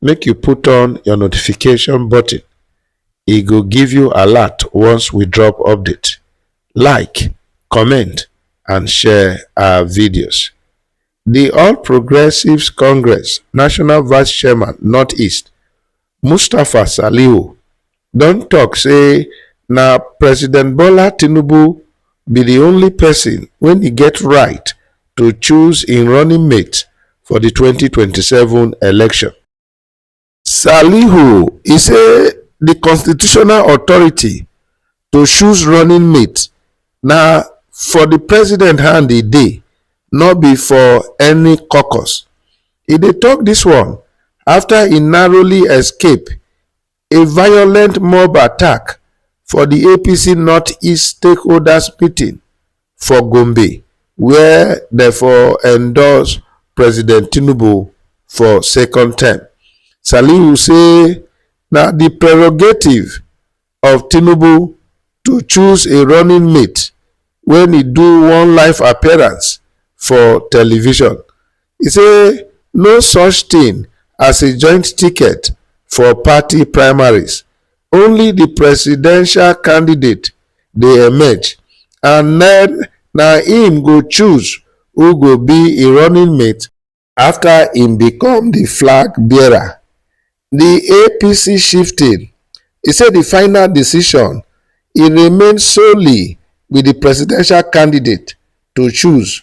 make you put on your notification button e go give you alert once we drop update like comment and share our videos the all progressives congress national vice chairman northeast mustapha salihu don tok say na president bola tinubu be di only pesin wey e get right to choose im running mate for di twenty twenty seven election. Salihu e say di constitutional authority to choose running mate na for di president hand e dey no be for any caucus. E dey tok dis one afta e narrowly escape A violent mob attack for di APC North-East stakeholders meeting for Gombe where dem for endorse President Tinubu for second term. Salihu say na di prerogative of Tinubu to choose a running mate wen e do one live appearance for television e say no such tin as a joint ticket for party primaries only di presidential candidate dey emerge and na im go choose who go be im running mate. afta im become di flag bearer di apc shifting e say di final decision e remain solely wit di presidential candidate to choose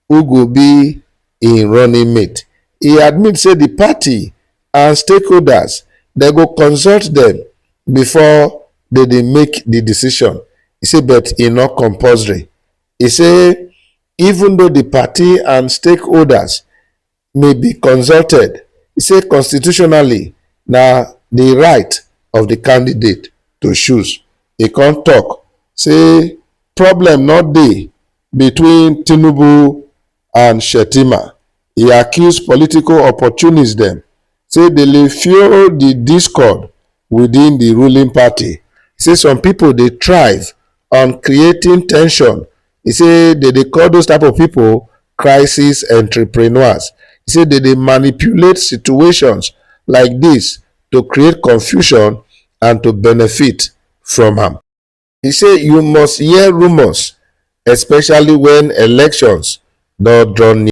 who go be im running mate e admit say di party and stakeholders dem go consult dem bifor dem make di decision e say but e no compulsory e say even though di party and stakeholders may be consulted e say constitutionally na di right of di candidate to choose e kon tok say problem no dey between tinubu and shettima. e accuse political opportunists dem say dey le fuel di discord within di ruling party, say some pipo dey thrive on creating tension, e say dey dey call those type of pipo crisis entrepreneurs, e say dey dey manipulate situations like dis to create confusion and to benefit from am. E say you must hear rumours, especially wen elections don draw near.